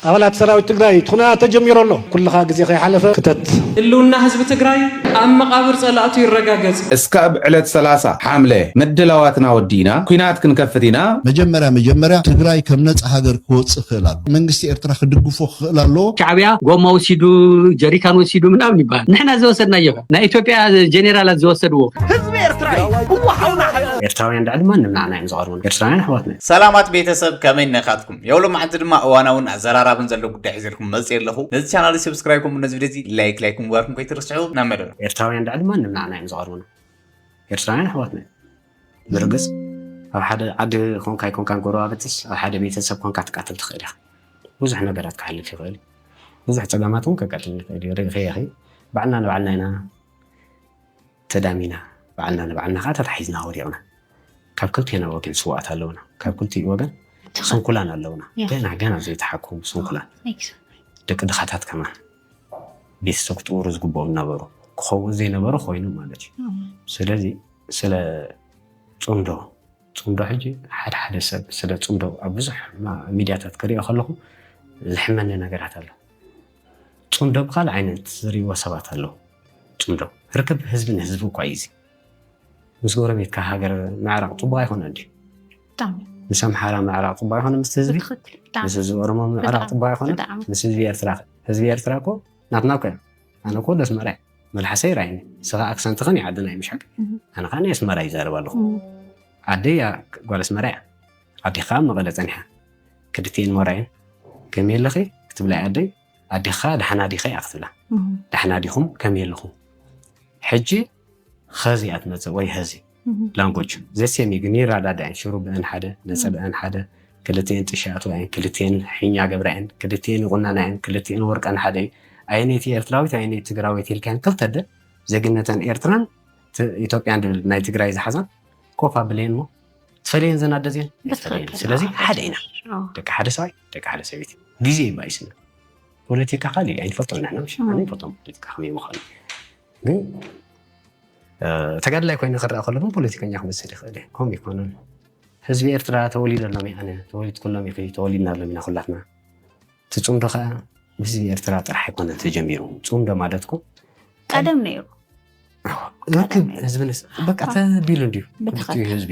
ኣባላት ሰራዊት ትግራይ እቲ ኹናት ተጀሚሩ ኣሎ ኩልኻ ግዜ ከይሓለፈ ክተት። ህልውና ህዝቢ ትግራይ ኣብ መቓብር ፀላእቱ ይረጋገፅ! እስካብ ዕለት ሰላሳ ሓምለ ምድላዋትና ወዲእና ኩናት ክንከፍት ኢና። መጀመርያ መጀመርያ ትግራይ ከም ነፃ ሃገር ክወፅእ ክኽእል ኣለዎ። መንግስቲ ኤርትራ ክድግፎ ክኽእል ኣለዎ። ሻዕብያ ጎማ ወሲዱ ጀሪካን ወሲዱ ምናምን ይበሃል ንሕና ዝወሰድናዮ ከ ናይ ኢትዮጵያ ጀኔራላት ዝወሰድዎ። ህዝቢ ኤርትራ እዩ እወ ሓውና ሓቢቢ። ኤርትራውያን ልዕሊ ማንም ንዓና እዮም ዝቐርቡ። ኤርትራውያን ኣሕዋትና። ሰላማት ቤተሰብ ከመይ ነካትኩም ዮሎ መዓልቲ ድማ እዋናውን ኣዘራራብን ዘሎ ጉዳይ ሒዘልኩም መጽየ ኣለኹ ነዚ ቻናል ሰብስክራይብ ከምኡ ነዚ ቪድዮ እዚ ላይክ ላይክ ምግባርኩም ከይትርስዑ ናብ መደብና ኤርትራውያን ልዕሊ ማንም ንዓና እዮም ዝቐርቡና ኤርትራውያን ኣሕዋትና ብርግጽ ኣብ ሓደ ዓዲ ኮንካ ይኮንካ ጎረባብትስ ኣብ ሓደ ቤተሰብ ኮንካ ትቃተል ትኽእል ኢኻ ብዙሕ ነገራት ክሓልፍ ይኽእል ብዙሕ ፀገማት እውን ከጋጥም ይኽእል እዩ ርኢኺ ኢኺ ባዕልና ንባዕልና ኢና ተዳሚና ባዕልና ንባዕልና ከኣ ተታሒዝና ወዲቕና ካብ ክልቴና ወገን ስውኣት ኣለውና ካብ ክልቲኡ ወገን ስንኩላን ኣለውና ገና ገና ዘይተሓከሙ ስንኩላን ደቂ ድኻታት ከማን ቤተሰብ ክጥውሩ ዝግብኦም ነበሩ ክኸውን ዘይነበረ ኮይኑ ማለት እዩ ስለዚ ስለ ፅምዶ ፅምዶ ሕጂ ሓደ ሓደ ሰብ ስለ ፅምዶ ኣብ ብዙሕ ሚድያታት ክሪኦ ከለኹ ዝሕመኒ ነገራት ኣሎ ጽምዶ ብካልእ ዓይነት ዝርእይዎ ሰባት ኣለዉ። ጽምዶ ርክብ ህዝቢ ንህዝቢ እኳ እዩ እዚ። ምስ ጎረቤትካ ሃገር ምዕራቕ ጽቡቕ ኣይኮነን ድዩ? ብጣዕሚ። ምስ ኣምሓራ ምዕራቕ ጽቡቕ ኣይኮነን ምስቲ ህዝቢ? ብትኽክል ብጣዕሚ። ምስ ህዝቢ ኦሮሞ ምዕራቕ ብጣዕሚ፣ ጽቡቕ ኣይኮነን ብጣዕሚ። ምስ ህዝቢ ኤርትራኸ? ህዝቢ ኤርትራ እኮ ናትና እኮ እዮም። ኣነ እኮ ወዲ ኣስመራ እየ። መልሓሰይ ራይን እዩ። ንስኻ ኣክሰንትኽን እዩ ዓድና እዩ ምሽ ሓቂ? እህ። ኣነ ከኣ ናይ ኣስመራ ይዛረብ ኣለኹ። እህ። ዓደይ ጓል ኣስመራ እያ። ኣዴኻ ኣብ መቐለ ጸኒሓ ክድፍኤን ሞራየን ከመይ ኣለኺ ክትብላ እያ ኣደይ ኣዴኻ ደሓና ዲኺ እያ ክትብላ ደሓና ዲኹም ከመይ ኣለኹም ሕጂ ኸዚ እያ ትመጽእ ወይ ሀዚ ላንጎጅ ዘሴም እዩ ግን ይረዳዳ እየን ሽሩብአን ሓደ ነፀለአን ሓደ ክልቲኤን ጥሻ ኣትዋ እየን ክልቲኤን ሒኛ ገብራ እየን ክልቲኤን ይቑነና እየን ክልቲኤን ወርቀን ሓደ እዩ ኣየነይቲ ኤርትራዊት ኣየነይቲ ትግራዊት ኢልካን ክልተ ደ ዜግነተን ኤርትራን ኢትዮጵያን ድብል ናይ ትግራይ ዝሓዛን ኮፍ ኣብለየን እሞ ትፈልየን ዘን ኣደ እዚኣን ይፈልየን። ብትክክል። ስለዚ ኣዎ፣ ሓደ ኢና ኣዎ። ደቂ ሓደ ሰብኣይ ደቂ ሓደ ሰበይቲ ግዜ እዩ ባይስና ፖለቲካ ካልእ እዩ ኣይንፈልጦ ኢና ሕና ምሽ ኣነ ይፈልጦም ፖለቲካ ከመይ ምዃኑ ግን እ፣ ተጋድላይ ኮይነ ክረኣ ከሎ ግን ፖለቲከኛ ክመስል ይኽእል እየ ከምኡ ይኮነን ህዝቢ ኤርትራ ተወሊደሎም እዩ ኣነ ተወሊድኩሎም ኢኺ ተወሊድናሎም ኢና ኩላትና እቲ ፅምዶ ከዓ ብህዝቢ ኤርትራ ጥራሕ ኣይኮነን ተጀሚሩ ፅምዶ ማለት እኮ ቀደም ነይሩ ህዝብንስ በቃ ተቢሉ እንዲዩ ክልቲኡ ህዝቢ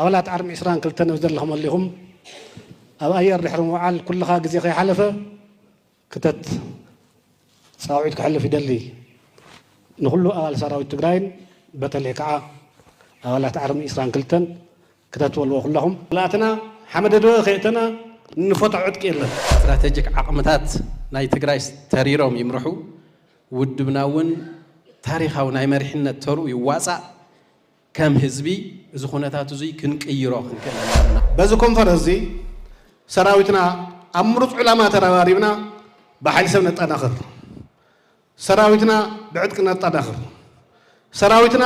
ኣባላት ዓርሚ ዕስራን ክልተን ኣብ ዘለኽመሉ ኢኹም ኣብ ኣየር ድሕሪ ምውዓል ኩልኻ ግዜ ከይሓለፈ ክተት ጻውዒት ከሕልፍ ይደሊ። ንኹሉ ኣባል ሰራዊት ትግራይን በተለይ ከዓ ኣባላት ዓርሚ ዕስራን ክልተን ክተት በልዎ ኩላኹም። ክልኣትና ሓመደድበ ከይእተና እንፎታ ዕጥቂ የለን። ስትራተጂክ ዓቕምታት ናይ ትግራይ ተሪሮም ይምርሑ፣ ውድብና እውን ታሪኻዊ ናይ መሪሕነት ተርኡ ይዋፃእ። ከም ህዝቢ እዚ ኩነታት እዙይ ክንቅይሮ ክንክእል ኣለና። በዚ ኮንፈረንስ እዚ ሰራዊትና ኣብ ምሩፅ ዕላማ ተረባሪብና ብሓይሊ ሰብ ነጠናኽር፣ ሰራዊትና ብዕጥቂ ነጠናኽር፣ ሰራዊትና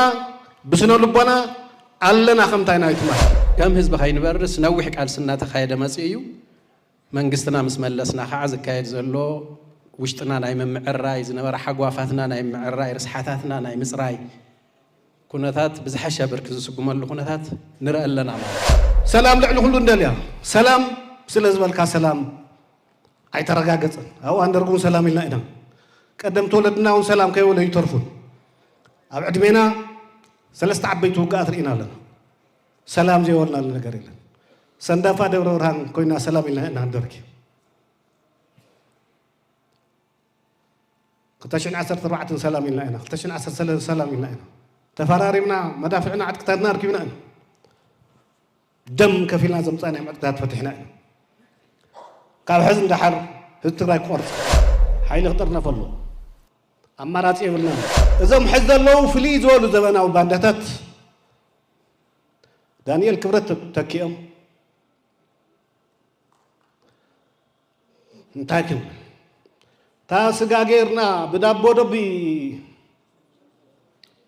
ብስነ ልቦና ኣለና ከምታይና ይትማህ። ከም ህዝቢ ከይንበርስ ነዊሕ ቃልሲ እናተኻየደ መፂኡ እዩ። መንግስትና ምስ መለስና ካዓ ዝካየድ ዘሎ ውሽጥና ናይ ምምዕርራይ ዝነበረ ሓጓፋትና ናይ ምምዕርራይ ርስሓታትና ናይ ምፅራይ ኩነታት ብዝሐሸ ብርኪ ዝስጉመሉ ኩነታት ንረኢ ኣለና ማለት እዩ። ሰላም ልዕሊ ኩሉ ንደልያ ሰላም ስለ ዝበልካ ሰላም ኣይተረጋገፀን ኣብ እዋን ደርጊ እውን ሰላም ኢልና ኢና ቀደምቲ ወለድና እውን ሰላም ከይበሉ ኣይተርፉን ኣብ ዕድሜና ሰለስተ ዓበይቲ ውግኣት ርኢና ኣለና ሰላም ዘይበልናሉ ነገር የለን። ሰንዳፋ ደብረ ብርሃን ኮይና ሰላም ኢልና ኢና ንደርኪ ክልተ ሽሕን ዓሰርተ ኣርባዕተን ሰላም ኢልና ኢና ክልተ ሽሕን ዓሰርተ ሰለስተ ሰላም ኢልና ኢና ተፈራሪምና መዳፍዕና ዕጥቅታትና ኣርኪብና ኢና ደም ከፊልና ዘምፃእናዮም ዕጥቅታት ፈቲሕና ኢና ካብ ሕዚ ንደሓር ህዝቢ ትግራይ ክቆርፅ ሓይሊ ክጥርነፍ ኣሎ ኣማራፂ የብልና እዞም ሕዚ ዘለዉ ፍልይ ዝበሉ ዘበናዊ ባንዳታት ዳንኤል ክብረት ተኪኦም እንታይ ክንብል እታ ስጋ ጌርና ብዳቦ ዶቢ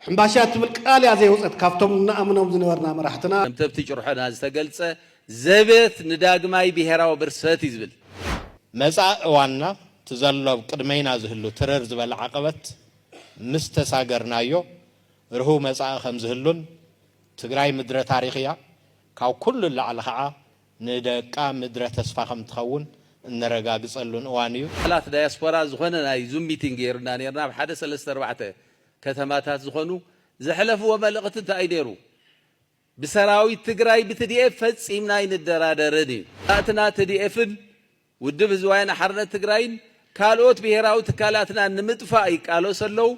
ሕምባሻ ትብል ቃል እያ ዘይወፀት ካብቶም ንኣምኖም ዝነበርና መራሕትና ከምቲ ኣብቲ ጭርሖና ዝተገልጸ ዘበት ንዳግማይ ብሄራዊ ብርሰት እዩ ዝብል። መጻኢ እዋንና እቲ ዘሎ ኣብ ቅድመይና ዝህሉ ትርር ዝበለ ዓቐበት ምስ ተሳገርናዮ፣ ርሁው መጻኢ ከም ዝህሉን፣ ትግራይ ምድረ ታሪኽ እያ፣ ካብ ኩሉ ንላዕሊ ኸዓ ንደቃ ምድረ ተስፋ ከም ትኸውን እነረጋግጸሉን እዋን እዩ። ኣባላት ዳያስፖራ ዝኾነ ናይ ዙም ሚቲንግ ገይርና ኔርና፣ ኣብ ሓደ ሰለስተ ኣርባዕተ ከተማታት ዝኾኑ፣ ዘሕለፍዎ መልእኽቲ እንታይ እዩ ነይሩ? ብሰራዊት ትግራይ ብትዲኤፍ ፈጺምና ኣይንደራደርን እዩ። ናትና ትዲኤፍን ውድብ ህዝቢ ወያነ ሓርነት ትግራይን ካልኦት ብሄራዊ ትካላትናን ንምጥፋእ ይቃለሱ ኣለው።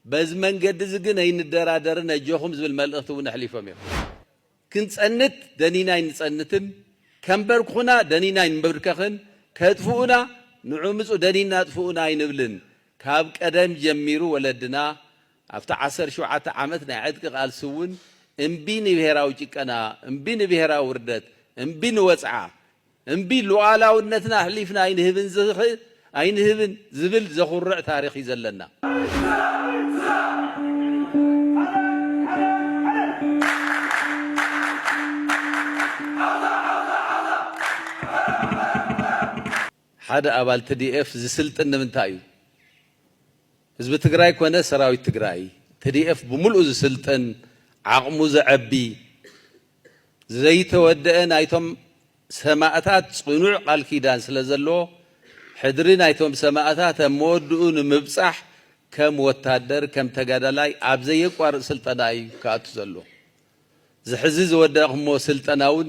በዚ መንገዲ እዚ ግን ኣይንደራደርን ኣጆኹም ዝብል መልእኽቲ እውን ኣሕሊፎም እዮም። ክንፀንት ደኒና ኣይንፀንትን፣ ከንበርክኹና ደኒና ኣይንብርከኽን፣ ከጥፍኡና ንዑምፁ ደኒና ኣጥፍኡና ኣይንብልን። ካብ ቀደም ጀሚሩ ወለድና ኣብቲ ዓሰርተ ሸውዓተ ዓመት ናይ ዕጥቂ ቃልሲ እውን እምቢ ንብሄራዊ ጭቀና፣ እምቢ ንብሄራዊ ውርደት፣ እምቢ ንወፅዓ እምቢ ሉኣላውነትና ኣሕሊፍና ኣይንህብን ዝህ ኣይንህብን ዝብል ዘኹርዕ ታሪኽ እዩ ዘለና። ሓደ ኣባል ትዲኤፍ ዝስልጥን ንምንታይ እዩ? ህዝቢ ትግራይ ኮነ ሰራዊት ትግራይ፣ ትዲኤፍ ብምሉኡ ዝስልጥን፣ ዓቕሙ ዘዐቢ፣ ዘይተወደኣ ናይቶም ሰማእታት ጽኑዕ ቃል ኪዳን ስለ ዘለዎ፣ ሕድሪ ናይቶም ሰማእታት ኣብ መወድኡ ንምብጻሕ ከም ወታደር ከም ተጋዳላይ ኣብ ዘየቋርጽ ስልጠና እዩ ክኣቱ ዘለዎ። እዚ ሕዚ ዝወደእክሞ ስልጠናውን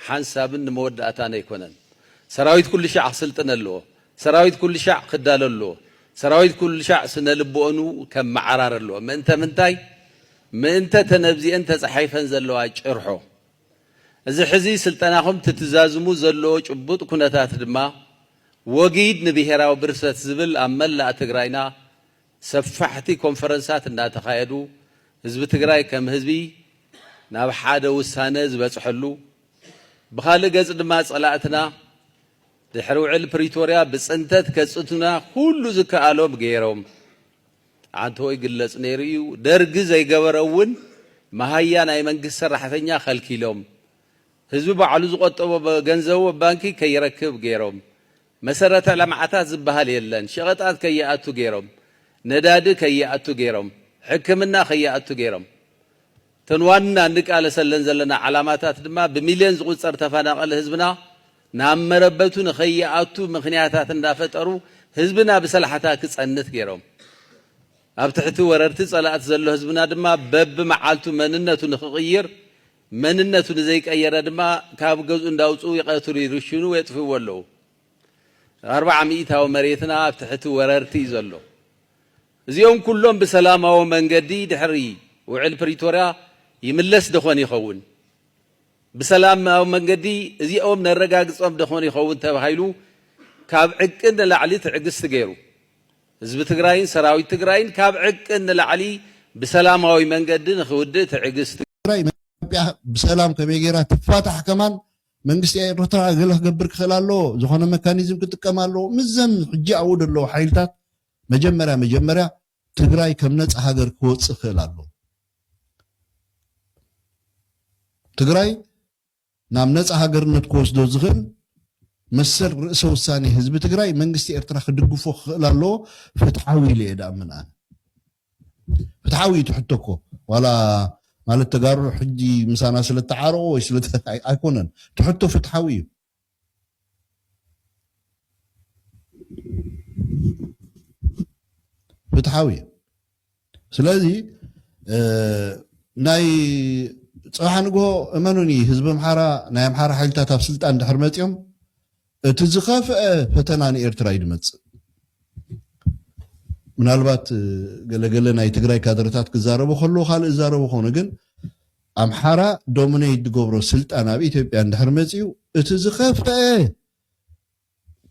ሓንሳብን ንመወዳእታን ኣይኮነን። ሰራዊት ኩሉ ሻዕ ክስልጥን ኣለዎ። ሰራዊት ኩልሻዕ ክዳሎ ኣለዎ። ሰራዊት ኩልሻዕ ስነ ልብኦንኡ ከመዓራሪ ኣለዎ። ምእንተ ምንታይ? ምእንተ እተን ኣብዚኤን ተጻሒፈን ዘለዋ ጭርሖ። እዚ ሕዚ ስልጠናኹም ትትዛዝሙ ዘለዎ ጭቡጥ ኩነታት ድማ ወጊድ ንብሄራዊ ብርሰት ዝብል ኣብ መላእ ትግራይና ሰፋሕቲ ኮንፈረንሳት እናተኻየዱ ህዝቢ ትግራይ ከም ህዝቢ ናብ ሓደ ውሳነ ዝበጽሐሉ ብኻልእ ገጽ ድማ ጸላእትና ድሕሪ ውዕል ፕሪቶርያ ብፅንተት ከፅንቱና ኩሉ ዝከኣሎም ገይሮም። ኣንተወይ ግለፅ ነይሩ እዩ ደርጊ ዘይገበረ እውን መሃያ ናይ መንግስቲ ሰራሕተኛ ከልኪሎም። ህዝቢ ባዕሉ ዝቆጠቦ ገንዘቡ ኣብ ባንኪ ከይረክብ ገይሮም። መሰረተ ልምዓታት ዝበሃል የለን። ሸቐጣት ከይኣቱ ገይሮም። ነዳዲ ከይኣቱ ገይሮም። ሕክምና ከይኣቱ ገይሮም። እተን ዋና እንቃለሰለን ዘለና ዓላማታት ድማ ብሚልዮን ዝቑጸር ተፈናቐሊ ህዝብና ናብ መረበቱ ንኸይኣቱ ምኽንያታት እንዳፈጠሩ ህዝብና ብሰላሕታ ክጸንት ገይሮም ኣብ ትሕቲ ወረርቲ ጸላእቲ ዘሎ ህዝብና ድማ በብመዓልቱ መንነቱ ንኽቕይር መንነቱ ንዘይቀየረ ድማ ካብ ገዝኡ እንዳውጽኡ ይቐትሉ ይርሽኑ የጥፍእዎ ኣለዉ ኣርብዓ ሚኢታዊ መሬትና ኣብ ትሕቲ ወረርቲ እዩ ዘሎ። እዚኦም ኩሎም ብሰላማዊ መንገዲ ድሕሪ ውዕል ፕሪቶርያ ይምለስ ደኾን ይኸውን? ብሰላማዊ መንገዲ እዚኦም ነረጋግፆም ደኾን ይኸውን ተባሂሉ ካብ ዕቅን ንላዕሊ ትዕግስቲ ገይሩ። ህዝቢ ትግራይን ሰራዊት ትግራይን ካብ ዕቅን ንላዕሊ ብሰላማዊ መንገዲ ንክውድእ ትዕግስቲ። ትግራይ ንኢትዮጵያ ብሰላም ከመይ ገይራ ትፋታሕ ከማን መንግስቲ ኤርትራ ገለ ክገብር ክኽእል ኣለዎ፣ ዝኾነ መካኒዝም ክጥቀም ኣለዎ፣ ምስዘም ሕጂ ኣብኡ ዘለዉ ሓይልታት መጀመርያ መጀመርያ ትግራይ ከም ነጻ ሃገር ክወጽእ ክኽእል ኣለዎ። ትግራይ ናብ ነጻ ሃገርነት ክወስዶ ዝኽእል መሰል ርእሰ ውሳኔ ህዝቢ ትግራይ መንግስቲ ኤርትራ ክድግፎ ክኽእል ኣለዎ፣ ፍትሓዊ ኢለ እየ ድኣምን ኣነ። ፍትሓዊ እዩ እቲ ሕቶ እኮ ዋላ ማለት ተጋሩ ሕጂ ምሳና ስለ ተዓረቑ ወይ ስለ ኣይኮነን እቲ ሕቶ ፍትሓዊ እዩ ፍትሓዊ እዩ ስለዚ ናይ ፅባሕ ንግሆ እመኑኒ ህዝቢ ኣምሓራ ናይ ኣምሓራ ሓይልታት ኣብ ስልጣን ድሕር መፅኦም እቲ ዝኸፍኣ ፈተና ንኤርትራ እዩ ድመጽእ። ምናልባት ገለ ገለ ናይ ትግራይ ካድረታት ክዛረቡ ከለዉ ካልእ ዝዛረቡ ክኾኑ ግን ኣምሓራ ዶሚነይት ድገብሮ ስልጣን ኣብ ኢትዮጵያ እንድሕር መጺኡ እቲ ዝኸፍኣ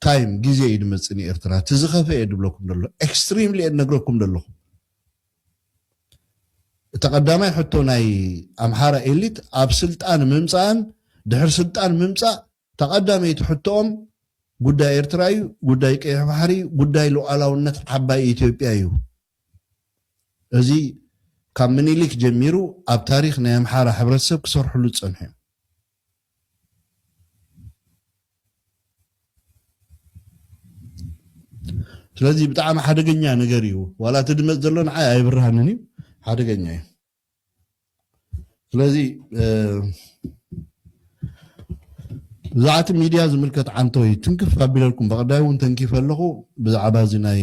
ታይም ግዜ እዩ ድመጽእ ንኤርትራ እቲ ዝኸፍኣ እየ ድብለኩም ደሎ ኤክስትሪምሊ እየ ድነግረኩም ደለኹ እቲ ቀዳማይ ሕቶ ናይ ኣምሓራ ኤሊት ኣብ ስልጣን ምምጻእን ድሕር ስልጣን ምምጻእ እታ ቀዳመይቲ ሕቶኦም ጉዳይ ኤርትራ እዩ፣ ጉዳይ ቀይሕ ባሕሪ፣ ጉዳይ ሉኣላውነት ዓባይ ኢትዮጵያ እዩ። እዚ ካብ ምኒሊክ ጀሚሩ ኣብ ታሪኽ ናይ ኣምሓራ ሕብረተሰብ ክሰርሕሉ ዝጸንሑ እዮም። ስለዚ ብጣዕሚ ሓደገኛ ነገር እዩ። ዋላ እቲ ድመጽ ዘሎ ንዓይ ኣይብርሃንን እዩ፣ ሓደገኛ እዩ። ስለዚ ብዛዕባ እቲ ሚድያ ዝምልከት ዓንቶ እዩ ትንክፍ ኣቢለልኩም በቐዳይ እውን ተንኪፈ ኣለኹ ብዛዕባ እዚ ናይ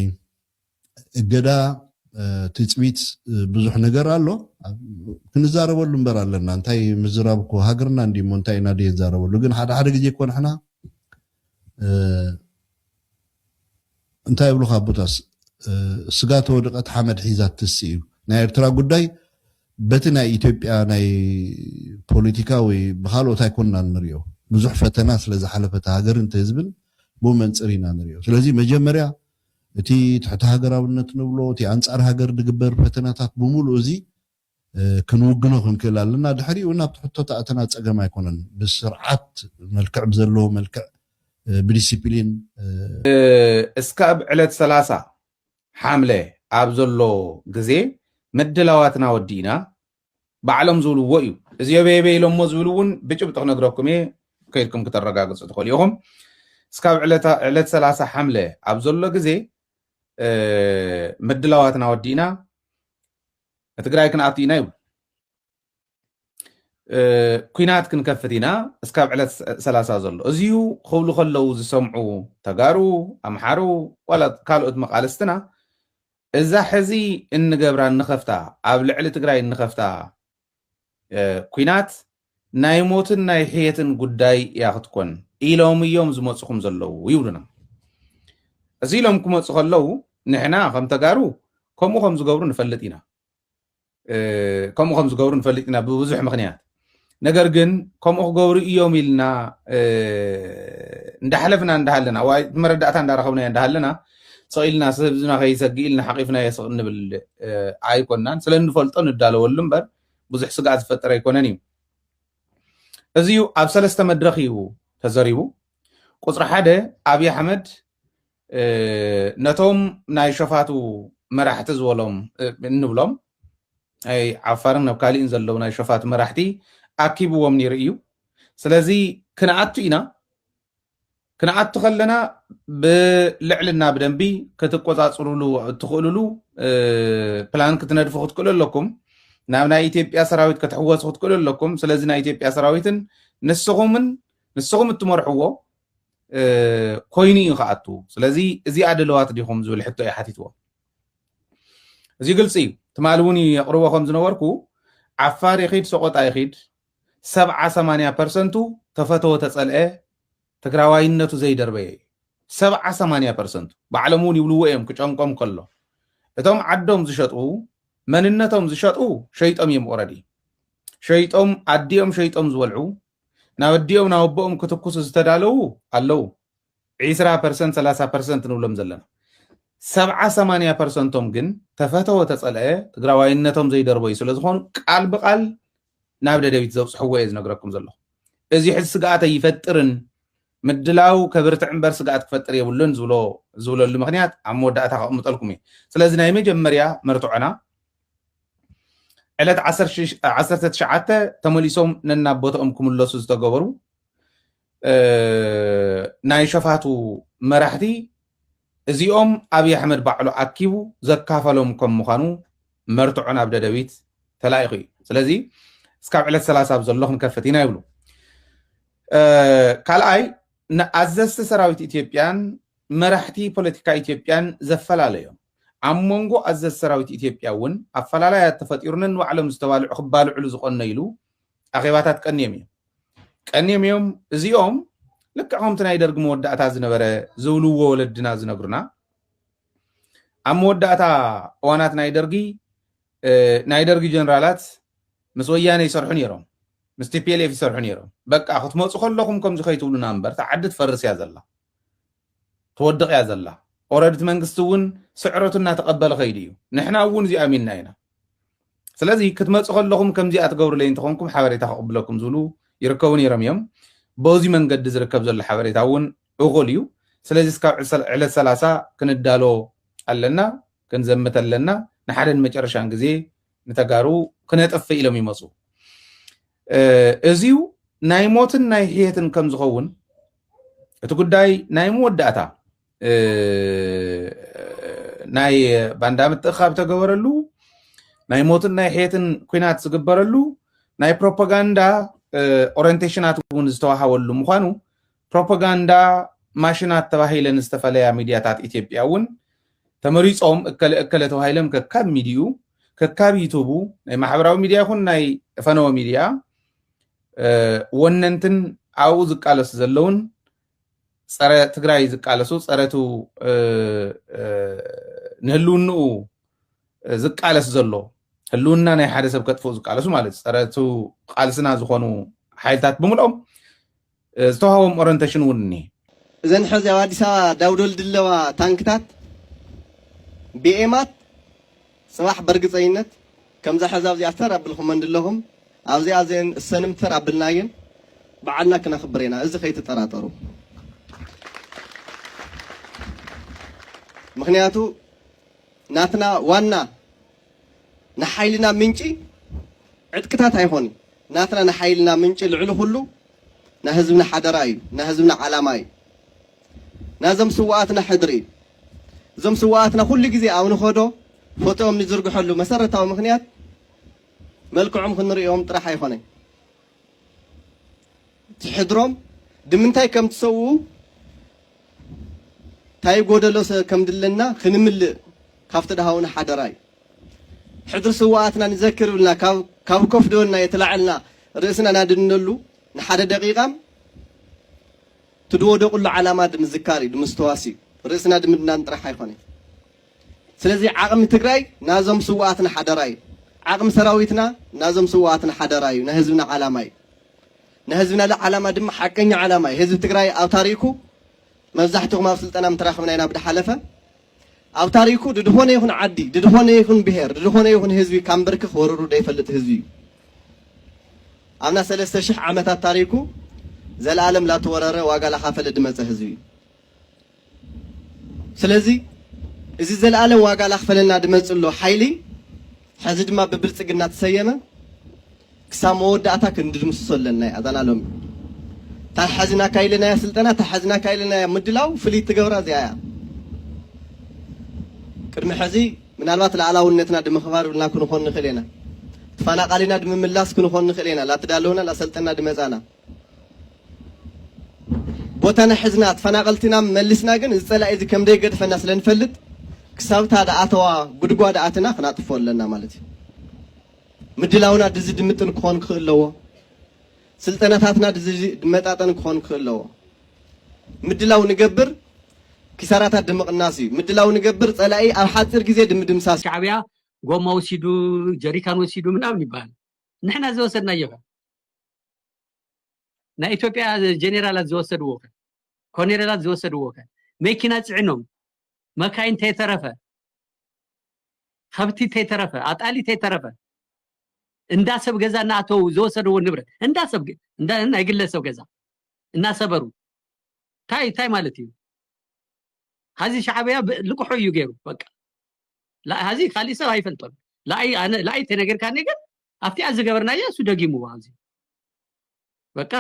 እገዳ ትፅቢት ብዙሕ ነገር ኣሎ ክንዛረበሉ እምበር ኣለና እንታይ ምዝራብ እኮ ሃገርና እንዲሞ እንታይ ኢና ድየ ዛረበሉ ግን ሓደ ሓደ ግዜ እኮ ንሕና እንታይ ይብሉኻ ኣቦታስ ስጋ ተወድቀት ሓመድ ሒዛ ትትስእ እዩ ናይ ኤርትራ ጉዳይ በቲ ናይ ኢትዮጵያ ናይ ፖለቲካ ወይ ብካልኦት ኣይኮንናን ንሪኦ ብዙሕ ፈተና ስለ ዝሓለፈ እቲ ሃገርን እቲ ህዝብን ብኡ መንጽር ኢና ንሪኦ ስለዚ መጀመርያ እቲ ትሕተ ሃገራውነት ንብሎ እቲ ኣንጻር ሃገር ዝግበር ፈተናታት ብምሉኡ እዚ ክንውግኖ ክንክእል ኣለና። ድሕሪኡ ናብቲ ሕቶ ተኣተና ጸገም ኣይኮነን። ብስርዓት መልክዕ ብዘለዎ መልክዕ ብዲሲፕሊን። እስካብ ዕለት ሰላሳ ሓምለ ኣብ ዘሎ ግዜ ምድላዋትና ወዲእና ባዕሎም ዝብልዎ እዩ። እዚ የበየበ ኢሎሞ ዝብል እውን ብጭብጢ ክነግረኩም እየ ከይድኩም ክተረጋግጹ ትኽእሉ ኢኹም። እስካብ ዕለት ሰላሳ ሓምለ ኣብ ዘሎ ግዜ ምድላዋትና ወዲእና ትግራይ ክንኣቱ ኢና ይብሉ ኩናት ክንከፍት ኢና እስካብ ዕለት ሰላሳ ዘሎ እዚዩ ክብሉ ከለው ዝሰምዑ ተጋሩ ኣምሓሩ ዋላ ካልኦት መቃልስትና እዛ ሕዚ እንገብራ እንኸፍታ ኣብ ልዕሊ ትግራይ እንኸፍታ ኩናት ናይ ሞትን ናይ ሕየትን ጉዳይ እያ ክትኮን ኢሎም እዮም ዝመፁኹም ዘለዉ ይብሉና። እዚ ኢሎም ክመፁ ከለዉ ንሕና ከም ተጋሩ ከምኡ ከም ዝገብሩ ንፈልጥ ኢና ከምኡ ከም ዝገብሩ ንፈልጥ ኢና ብብዙሕ ምክንያት ነገር ግን ከምኡ ክገብሩ እዮም ኢልና እንዳሓለፍና እንዳሃለና ወይ መረዳእታ እንዳረኸብና እንዳሃለና ስቕ ኢልና ህዝብና ከይሰግእ ኢልና ሓቚፍናዮ ስቕ እንብል ኣይኮናን። ስለ እንፈልጦ ንዳለወሉ እምበር ብዙሕ ስግኣት ዝፈጥር ኣይኮነን እዩ። እዚ እዩ ኣብ ሰለስተ መድረኽ እዩ ተዘሪቡ። ቁፅሪ ሓደ ኣብዪ ኣሕመድ ነቶም ናይ ሸፋቱ መራሕቲ ዝበሎም እንብሎም ናይ ዓፋርን ኣብ ካሊእን ዘለዉ ናይ ሸፋቱ መራሕቲ ኣኪብዎም ነይሩ እዩ። ስለዚ ክንኣቱ ኢና ክንኣቱ ከለና ብልዕልና ብደንቢ ክትቆፃፅሩሉ እትኽእሉሉ ፕላን ክትነድፉ ክትክእሉ ኣለኩም ናብ ናይ ኢትዮጵያ ሰራዊት ክትሕወሱ ክትክእሉ ኣለኩም ስለዚ ናይ ኢትዮጵያ ሰራዊትን ንስኹምን ንስኹም እትመርሕዎ ኮይኑ እዩ ክኣቱ ስለዚ እዚኣ ድለዋት ዲኹም ዝብል ሕቶ እዩ ሓቲትዎ እዚ ግልፂ እዩ ትማሊ እውን የቕርቦ ከም ዝነበርኩ ዓፋር ይኺድ ሰቆጣ ይኺድ ሰብዓ ሰማንያ ፐርሰንቱ ተፈተወ ተፀልኤ ትግራዋይነቱ ዘይደርበየ እዩ ሰብዓ ሰማንያ ፐርሰንቱ ባዕሎም እውን ይብልዎ እዮም ክጨንቆም ከሎ እቶም ዓዶም ዝሸጡ መንነቶም ዝሸጡ ሸይጦም እዮም ኦረዲ ሸይጦም ኣዲኦም ሸይጦም ዝበልዑ ናብ ኣዲኦም ናብ ኣቦኦም ክትኩሱ ዝተዳለዉ ኣለዉ ዒስራ ፐርሰንት ሰላሳ ፐርሰንት ንብሎም ዘለና ሰብዓ ሰማንያ ፐርሰንቶም ግን ተፈተወ ተፀልአ ትግራዋይነቶም ዘይደርበዩ ስለዝኾኑ ቃል ብቃል ናብ ደደቢት ዘብፅሕዎ እየ ዝነግረኩም ዘለኹ እዙይ ሕዚ ስግኣት ኣይፈጥርን ምድላው ከብርትዕ እምበር ስግኣት ክፈጥር የብሉን ዝብሎ ዝብለሉ ምክንያት ኣብ መወዳእታ ከቕምጠልኩም እዩ ስለዚ ናይ መጀመርያ መርትዖና ዕለት ዓሰርተ ትሽዓተ ተመሊሶም ነናብ ቦትኦም ክምለሱ ዝተገበሩ ናይ ሸፋቱ መራሕቲ እዚኦም ኣብይ ኣሕመድ ባዕሉ ኣኪቡ ዘካፈሎም ከም ምዃኑ መርትዖ ናብ ደደቢት ተላኢኹ እዩ ስለዚ እስካብ ዕለት ሰላሳ ኣብ ዘሎ ክንከፍት ኢና ይብሉ ካልኣይ ንኣዘዝቲ ሰራዊት ኢትዮጵያን መራሕቲ ፖለቲካ ኢትዮጵያን ዘፈላለዮም ኣብ መንጎ ኣዘዝ ሰራዊት ኢትዮጵያ እውን ኣፈላላይ ተፈጢሩ ነንባዕሎም ዝተባልዑ ክባልዕሉ ዝቆነይሉ ኣኼባታት ቀንዮም እዮም ቀንዮም እዮም እዚኦም ልክዕ ከምቲ ናይ ደርጊ መወዳእታ ዝነበረ ዝብልዎ ወለድና ዝነግሩና ኣብ መወዳእታ እዋናት ናይ ደርጊ ናይ ደርጊ ጀነራላት ምስ ወያነ ይሰርሑ ነይሮም ምስ ቲፒኤልኤፍ ይሰርሑ ነይሮም በቃ ክትመፁ ከለኹም ከምዚ ከይትብሉና እምበር እቲ ዓዲ ትፈርስ እያ ዘላ ትወድቕ እያ ዘላ ኦረድቲ መንግስቲ እውን ስዕረቱ እናተቐበለ ከይዱ እዩ ንሕና እውን እዚ ኣሚንና ኢና ስለዚ ክትመፁ ከለኹም ከምዚኣ ትገብሩለይ እንተኾንኩም ሓበሬታ ከቕብለኩም ዝብሉ ይርከቡ ነይሮም እዮም በዚ መንገዲ ዝርከብ ዘሎ ሓበሬታ እውን እኹል እዩ ስለዚ እስካብ ዕለት ሰላሳ ክንዳሎ ኣለና ክንዘምት ኣለና ንሓደን መጨረሻን ግዜ ንተጋሩ ክነጥፍእ ኢሎም ይመፁ እዚዩ ናይ ሞትን ናይ ሕየትን ከም ዝኸውን እቲ ጉዳይ ናይ መወዳእታ ናይ ባንዳ ምትእኻብ ተገበረሉ ናይ ሞትን ናይ ሕየትን ኩናት ዝግበረሉ ናይ ፕሮፓጋንዳ ኦሪንቴሽናት እውን ዝተዋሃበሉ ምኳኑ ፕሮፓጋንዳ ማሽናት ተባሂለን ዝተፈለያ ሚድያታት ኢትዮጵያ እውን ተመሪፆም እከለ እከለ ተባሂሎም ከካብ ሚድኡ ከካብ ዩቱቡ ናይ ማሕበራዊ ሚድያ ይኹን ናይ ፈነወ ሚድያ ወነንትን ኣብኡ ዝቃለሱ ዘለውን ፀረ ትግራይ ዝቃለሱ ፀረቱ ንህልውንኡ ዝቃለስ ዘሎ ህልውና ናይ ሓደ ሰብ ከጥፍኡ ዝቃለሱ ማለት ፀረቱ ቃልስና ዝኾኑ ሓይልታት ብምልኦም ዝተዋሃቦም ኦረንቴሽን እውን እኒሄ እዘን ሕዚ ኣብ ኣዲስ ኣበባ ዳውዶል ድለዋ ታንክታት ብኤማት ጽባሕ በርግጸኝነት ከምዛ ሕዚ ኣብዚኣ ተር ኣብልኩመን ድለኩም ኣብዚኣ ዘን እሰንም ተር ኣብልናየን ብዓልና ክነክብር ኢና እዚ ከይትጠራጠሩ ምክንያቱ ናትና ዋና ንሓይልና ምንጪ ዕጥቅታት ኣይኮን ናትና ንሓይልና ምንጪ ልዕሊ ኩሉ ናህዝብና ሓደራ እዩ ናህዝብና ዓላማ እዩ። ናዞም ስውኣትና ሕድሪ እዩ። እዞም ስውኣትና ኩሉ ግዜ ኣብ ንኸዶ ፎቶኦም ንዝርግሐሉ መሰረታዊ ምኽንያት መልክዖም ክንርእዮም ጥራሕ ኣይኾነን። እቲ ሕድሮም ድምንታይ ከም ትሰውኡ ታይ ጎደሎ ከም ድለና ክንምልእ ካብቲ ድሃውና ሓደራ እዩ። ሕድሪ ስውኣትና ንዘክር ብልና ካብ ኮፍ ድበልናዮ ተላዕልና ርእስና ናድንነሉ ንሓደ ደቂቃም ትድወደቁሉ ዓላማ ድምዝካር እዩ ድምስተዋስ እዩ ርእስና ድምድናን ጥራሕ ኣይኮነይ ስለዚ ዓቅሚ ትግራይ ናዞም ስዋኣትና ሓደራ እዩ ዓቅሚ ሰራዊትና ናዞም ስዋኣትና ሓደራ እዩ ናይ ህዝብና ዓላማ እዩ ናይ ህዝብና ዓላማ ድማ ሓቀኛ ዓላማ እዩ ህዝቢ ትግራይ ኣብታሪኩ መብዛሕትኩም ኣብ ስልጠና ምተራክብና ኢና ብድሓለፈ ኣብ ታሪኩ ድድኾነ ይኹን ዓዲ፣ ድድኾነ ይኹን ብሄር፣ ድድኾነ ይኹን ህዝቢ ካብ ምብርክኽ ወሩሩ ደይፈልጥ ህዝቢ እዩ። ኣብና ሰለስተ ሽሕ ዓመታት ታሪኩ ዘለኣለም ላተወረረ ዋጋ ላኻፈለ ድመጸ ህዝቢ እዩ። ስለዚ እዚ ዘለኣለም ዋጋ ላኽፈለልና ድመጽሎ ሓይሊ ሕዚ ድማ ብብልጽግና ትሰየመ፣ ክሳብ መወዳእታ ክንድምስሶ ኣለና ኢያ እዛና ሎሚ እታ ሓዚናካ ኢለናያ ስልጠና እታ ሓዚናካ ኢለናያ ምድላው ፍልይቲ ትገብራ እዚኣ ኢያ ቅድሚ ሕዚ ምናልባት ላእላውነትና ድምክባር ብልና ክንኾን ንክእል ኢና ተፋናቃሊና ድምምላስ ክንኾን ንክእል ኢና ላተዳለውና ላሰልጠና ድመጻና ቦታና ሕዝና ተፈናቀልቲና መሊስና ግን እዚ ጸላኢ እዚ ከም ደይገድፈና ስለ ንፈልጥ ክሳብታ ደኣተዋ ጉድጓድ ኣትና ክናጥፎ ኣለና ማለት እዩ ምድላውና ድዚ ድምጥን ክኾን ክኽእል ኣለዎ። ስልጠናታትና ድዚ ድመጣጠን ክኾን ክኽእል ኣለዎ። ምድላው ንገብር ኪሳራታት ድምቕናስ እዩ። ምድላው ንገብር ጸላኢ ኣብ ሓጺር ግዜ ድምድምሳስ እዩ። ሻዕብያ ጎማ ወሲዱ ጀሪካን ወሲዱ ምናምን ይበሃል ንሕና ዝወሰድናዮኸ ናይ ኢትዮጵያ ጀኔራላት ዝወሰድዎኸ ኮኔሬላት ዝወሰድዎኸ መኪና ፂዕኖም መካይን ተይተረፈ ኸብቲ ተይተረፈ ኣጣሊ ተይተረፈ እንዳ ሰብ ገዛ እናኣተዉ ዝወሰድዎ ንብረት እንዳ ሰብ ናይ ግለ ሰብ ገዛ እናሰበሩ እንታይ እንታይ ማለት እዩ ሀዚ ሻዕብያ ልቅሖ እዩ ገይሩ በቃ ሀዚ ካሊእ ሰብ ኣይፈልጦን ላኣይ ተነገርካኒ ግን ኣብቲኣ ዝገበርናዮ እሱ ደጊምዎ ኣብዚ በቃ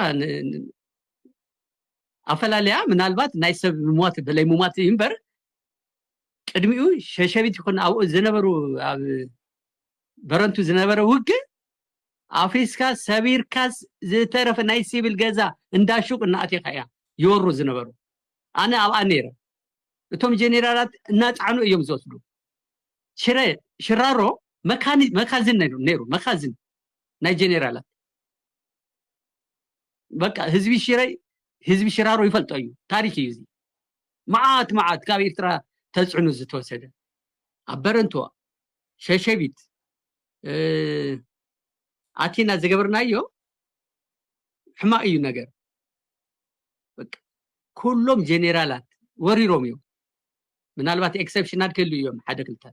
ኣፈላለያ ምናልባት ናይ ሰብ ምሟት በለይ ምሟት እዩ እምበር ቅድሚኡ ሸሸቢት ይኹን ኣብኡ ዝነበሩ ኣብ በረንቱ ዝነበረ ውግእ ኣፍሪስካ ሰቢርካ ዝተረፈ ናይ ሲቪል ገዛ እንዳ ሹቅ እናኣቴካ እያ ይወሩ ዝነበሩ ኣነ ኣብኣ ነይረ እቶም ጀኔራላት እናፃዕኑ እዮም ዝወስዱ ሽረ ሽራሮ መካኒ መካዝን ነይሩ ነይሩ መካዝን ናይ ጀኔራላት በቃ ህዝቢ ሽረ ህዝቢ ሽራሮ ይፈልጦ እዩ ታሪክ እዩ እዚ መዓት መዓት ካብ ኢርትራ ተጽዕኖ ዝተወሰደ ኣብ በረንትዋ ሸሸቢት ኣቲና ዝገበርናዮ ሕማቅ እዩ ነገር ኩሎም ጀኔራላት ወሪሮም እዮም ምናልባት ኤክሰፕሽናል ክህሉ እዮም ሓደ ክልተ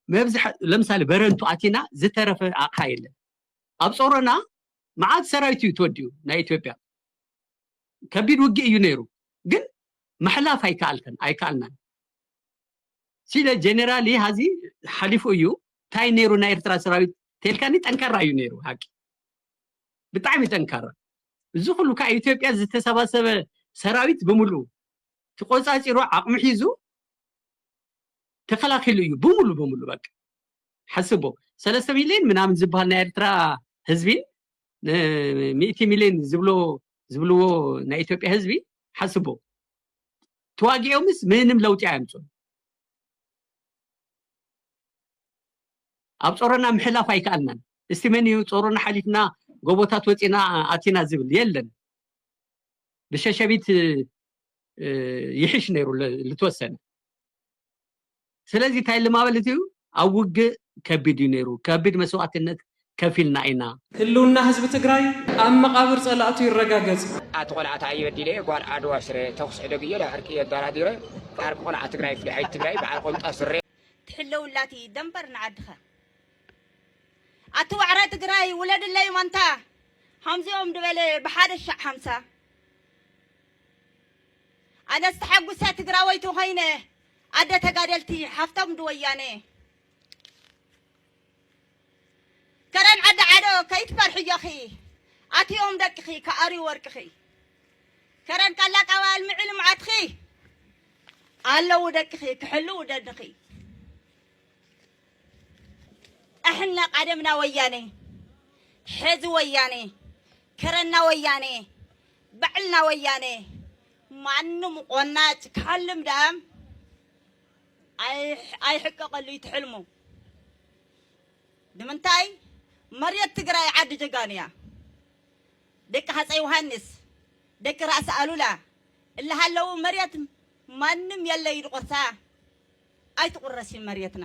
መብዝሐ ለምሳሌ በረንቱ ኣቲና ዝተረፈ ኣቕሓ የለን ኣብ ጾሮና መዓት ሰራዊት እዩ ተወዲኡ ናይ ኢትዮጵያ ከቢድ ውግእ እዩ ነይሩ ግን ምሕላፍ ኣይከኣልከን ኣይከኣልናን ሲለ ጀነራል ሀዚ ሓሊፉ እዩ እንታይ ነይሩ ናይ ኤርትራ ሰራዊት ቴልካኒ ጠንካራ እዩ ነይሩ ሃቂ ብጣዕሚ ጠንካራ እዚ ኩሉ ካብ ኢትዮጵያ ዝተሰባሰበ ሰራዊት ብምሉ ተቆፃፂሩ ዓቕሚ ሒዙ ተከላኪሉ እዩ ብምሉ ብምሉ በቃ ሓስቦ ሰለስተ ሚሊዮን ምናምን ዝበሃል ናይ ኤርትራ ህዝቢን ሚእቲ ሚሊዮን ዝብልዎ ናይ ኢትዮጵያ ህዝቢ ሓስቦ ተዋጊኦምስ ምንም ለውጢ ኣየምፅኡን ኣብ ፆሮና ምሕላፍ ኣይከኣልናን እስቲ መን እዩ ፆሮና ሓሊፍና ጎቦታት ወፂና ኣቲና ዝብል የለን ብሸሸቢት ይሕሽ ነይሩ ልተወሰነ ስለዚ እንታይ ኢሉ ማለት እዩ፣ ኣብ ውግእ ከቢድ እዩ ነይሩ፣ ከቢድ መስዋእትነት ከፊልና ኢና። ህልውና ህዝቢ ትግራይ ኣብ መቓብር ፀላእቱ ይረጋገፅ! ኣቲ ቆልዓ ታይ በዲለ እየ ጓል ዓድዋ ሽረ ተኩስ ዕደግ እየ ዳብ ዕርቂ እየ ኣዳራዲረ ዓርኪ ቆልዓ ትግራይ ፍሊሓይት ትግራይ ባዓል ቆምጣ ስረ። ትሕለውላ ትይ ደምበር ንዓድኻ። ኣቲ ዋዕሮ ትግራይ ውለድለይ ማንታ ሀምዚኦም ድበለ ብሓደ ሻዕ ሀምሳ ኣነስ ተሓጉሰ ትግራወይቲ ኾይነ። ኣደ ተጋደልቲ ሓፍቶም ድወያነ። ከረን ዓዲ ዓዶ ከይትፈርሒ እዮኺ ኣትዮም ደቅኺ ክኣርዩ ወርቅኺ ከረን ቃላቃዊ ኣልምዒ ልምዓትኺ ኣለዉ ደቅኺ ክሕልው ደድኺ ኣሕና ቃደምና ወያነ ሕዚ ወያነ ከረና ወያነ ባዕልና ወያነ ማንም ቆናጭ ክሓልም ደኣ ኣይሕቀቀሉ እዩ ትሕልሙ ንምንታይ መሬት ትግራይ ዓዲ ጀጋኑ እያ ደቂ ሃፀይ ዮሃንስ ደቂ ራእሲ ኣሉላ እላሃለው መሬት ማንም የለ ኢሉ ቆርሳ ኣይትቁረስይ መሬትና።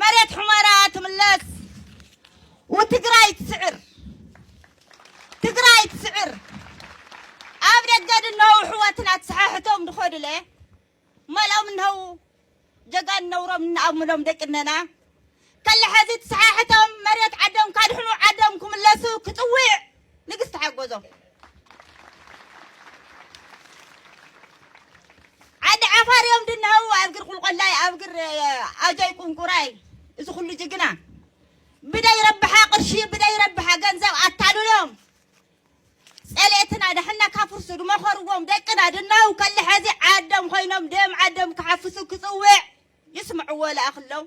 መሬት ሑመራ ትምለስ ውትግራይ ትስዕር ትግራይ ትስዕር ኣብ ደገ ድነው ሕወትና ትሰሓሕቶም ድኸዱለ መልኦም እንሀው ጀጋን ነውሮም እናኣምሎም ደቅነና ከለ ሐዚ ትሰሓሕቶም መሬት ዓዶም ካድሕኑ ዓዶም ክምለሱ ክፅውዕ ንግስቲ ሓጎዞም ዓዲ ዓፋር እዮም ድናው ኣብ ግር ቁልቆላይ ኣብ ግር ኣጆይ ቁንቁራይ እዚ ኩሉ ጅግና ብደይ ረብሓ ቅርሺ ብደይ ረብሓ ገንዘብ ኣታልሎም ጸልኤትና ደሕና ካፍርሱ ድመኸርዎም ደቅና ድናው ከልሐዚ ዓዶም ኮይኖም ደም ዓዶም ክሓፍሱ ክጽውዕ ይስምዕዎ ለኣኽሎም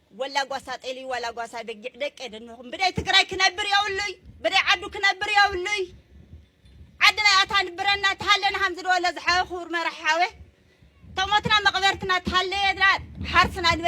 ወላ ጓሳ ጤሊ ዋላ ጓሳ በጊዕ ደቂ የድንኹም ብደይ ትግራይ ክነብር የብሉይ ብደይ ዓዱ ክነብር የብሉይ ዓዲ ናይ ኣታ ንብረና ተሃለና ከምዚ ድበሎ ዝሓወ ክቡር መራሒ ሓወ ተሞትና መቕበርትና ተሃለየና ሓርስና ንበል